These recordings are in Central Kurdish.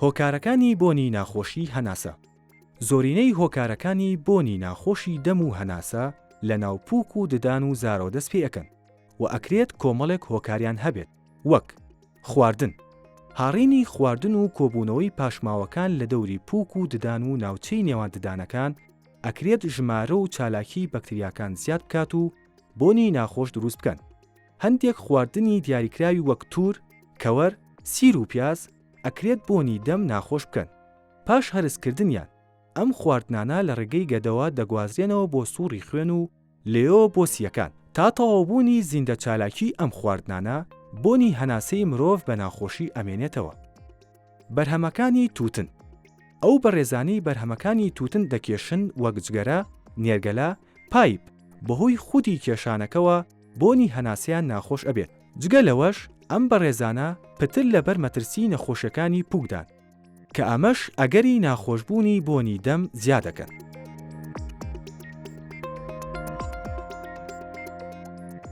هۆکارەکانی بۆنی ناخۆشی هەناسە زۆرینەی هۆکارەکانی بۆنی ناخۆشی دەم و هەناسە لە ناو پوک و ددان و زارەوە دەست پێ ئەکەن و ئەکرێت کۆمەڵێک هۆکاریان هەبێت وەک، خواردن، هاڕینی خواردن و کۆبوونەوەی پاشماوەکان لە دەوری پوک و ددان و ناوچەی نێوان ددانەکان ئەکرێت ژمارە و چالاکی بەکتریاکان زیاد بکات و بۆنی ناخۆش دروست بکەن. هەندێک خواردنی دیاریکراوی وەک توور، کەوەر، سیر و پیاز ئەکرێت بۆنی دەم ناخۆش بکەن. پاش هەرس کردنیان ئەم خواردنانە لە ڕێگەی گەدەوە دەگوازرێنەوە بۆ سوڕی خوێن و لێیەوە بۆ سییەکان. تا تەواوبوونی زیندەچالاکیی ئەم خواردنانە بۆنی هەناسەی مرۆڤ بە ناخۆشی ئەمێنێتەوە. بەرهەمەکانی تووتن، ئەو بەڕێزانەی بەرهەمەکانی تووتن دەکێشن وەک جگەرە، نێرگەلە، پایپ، بەهۆی خودی کێشانەکەوە بۆنی هەناسەیان ناخۆش ئەبێت، جگە لەوەش ئەم بەڕێزانە پتر لەبەر مەترسی نەخۆشیەکانی پوکدان کە ئەمەش ئەگەری ناخۆشبوونی بۆنی دەم زیادەکەن.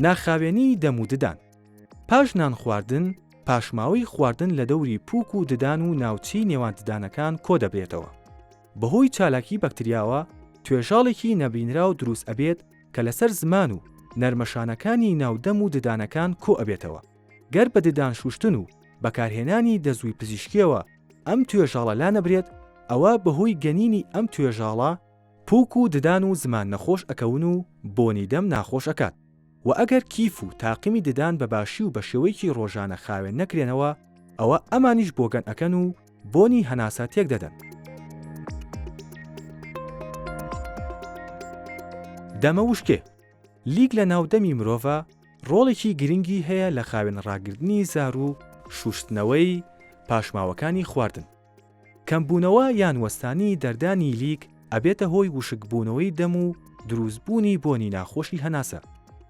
ناخاوێنی دەم و ددان، پاش نان خواردن پاشماوەی خواردن لەدەوری پوک و ددان و ناوچەی نێوان ددانەکان کۆدەبرێتەوە، بەهۆی چالاکی بەکتریاوە توێژاڵێکی نەبینراو دروست ئەبێت کە لەسەر زمان و نەرمەشانەکانی ناو دەم و ددانەکان کۆ ئەبێتەوە گەر بە ددان شوشتن و بەکارهێنانی دەزووی پزیشکیەوە ئەم توێژاڵە لانەبرێت ئەوا بەهۆی گەنینی ئەم توێژاڵە پوک و ددان و زمان نەخۆش ئەکەون و بۆنی دەم ناخۆش ئەکات. و ئەگەر کیف و تاقمی ددان بە باشی و بە شێوەیەکی ڕۆژانە خاوێن نەکرێنەوە ئەوە ئەمانیش بۆگەن ئەکەن و بۆنی هەناسە تێک دەدەن. دەمە وشکێ، لیک لە ناو دەمی مرۆڤا ڕۆڵێکی گرنگی هەیە لە خاوێن ڕاگرتنی زار و شوشتنەوەی پاشماوەکانی خواردن. کەمبوونەوە یان وەستانی دەردانی لیک ئەبێتە هۆی وشکبوونەوەی دەم و دروستبوونی بۆنی ناخۆشی هەناسە.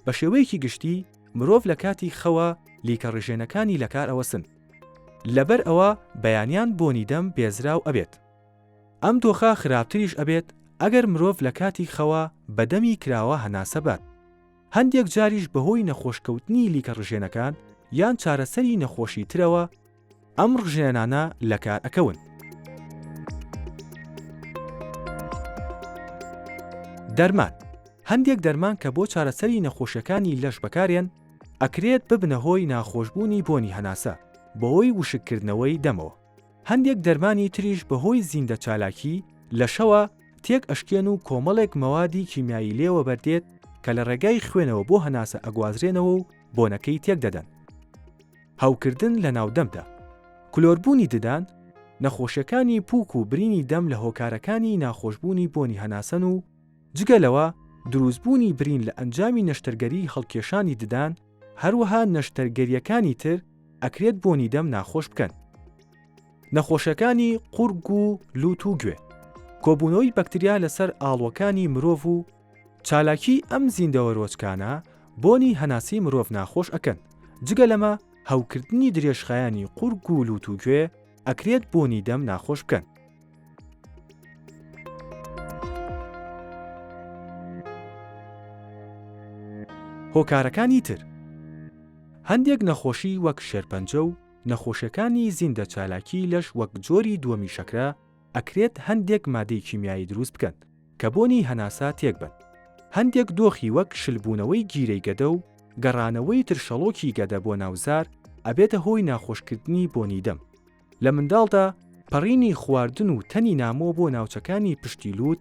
بە شێوەیەکی گشتی مرۆڤ لە کاتی خەوا لیکە ڕژێنەکانی لەکار ئەوەسن. لەبەر ئەوە بەیانیان بۆنی دەم بێزراو ئەبێت. ئەم دۆخە خراپتریش ئەبێت ئەگەر مرۆڤ لە کاتی خەوا بە دەمی کراوە هەناسە بات. هەندێک جاریش بەهۆی نەخۆشکەوتنی لیکە ڕژێنەکان یان چارەسەری نەخۆشی ترەوە، ئەم ڕژێنانە لەکار ئەکەون. دەرمان، هەندێک دەرمان کە بۆ چارەسەری نەخۆشیەکانی لەش بەکارێن ئەکرێت ببنە هۆی ناخۆشبوونی بۆنی هەناسە بەهۆی وشک کردنەوەی دەمەوە، هەندێک دەرمانی تریش بەهۆی زیندە چالاکی لەشەوە تێک ئەشکێن و کۆمەڵێک مەوادی کیمیایی لێ وەبەردێت کە لە ڕێگای خوێنەوە بۆ هەناسە ئەگوازرێنەوە و بۆنەکەی تێک دەدەن. هەوکردن لە ناو دەمدا. کلۆربوونی ددان، نەخۆشیەکانی پووک و برینی دەم لە هۆکارەکانی ناخۆشبوونی بۆنی هەناسەن و جگە لەوە دروستبوونی برین لە ئەنجامی نەشتەرگەری هەڵکێشانی ددان، هەروەها نەشتەرگەریەکانی تر ئەکرێت بۆنی دەم ناخۆش بکەن. نەخۆشیەکانی قوڕگ و لووت و گوێ، کۆبوونەوەی بەکتریا لەسەر ئاڵوەکانی مرۆڤ و چالاکیی ئەم زیندەوەرۆچکانە بۆنی هەناسەی مرۆڤ ناخۆش ئەکەن، جگە لەمە هەوکردنی درێژخایەنی قوڕگ و لوت و گوێ ئەکرێت بۆنی دەم ناخۆش بکەن. هۆکارەکانی تر، هەندێک نەخۆشی وەک شێرپەنجە و نەخۆشیەکانی زیندە چالاکیی لەش وەک جۆری دووەمی شەکرە، ئەکرێت هەندێک مادەی کیمیایی دروست بکەن کە بۆنی هەناسە تێک بەن. هەندێک دۆخی وەک شلبوونەوەی گیرەی گەدە و گەڕانەوەی ترشەڵۆکی گەدە بۆ ناو زار ئەبێتە هۆی ناخۆشکردنی بۆنی دەم. لە منداڵدا پەڕینی خواردن و تەنی نامۆ بۆ ناوچەکانی پشتی لووت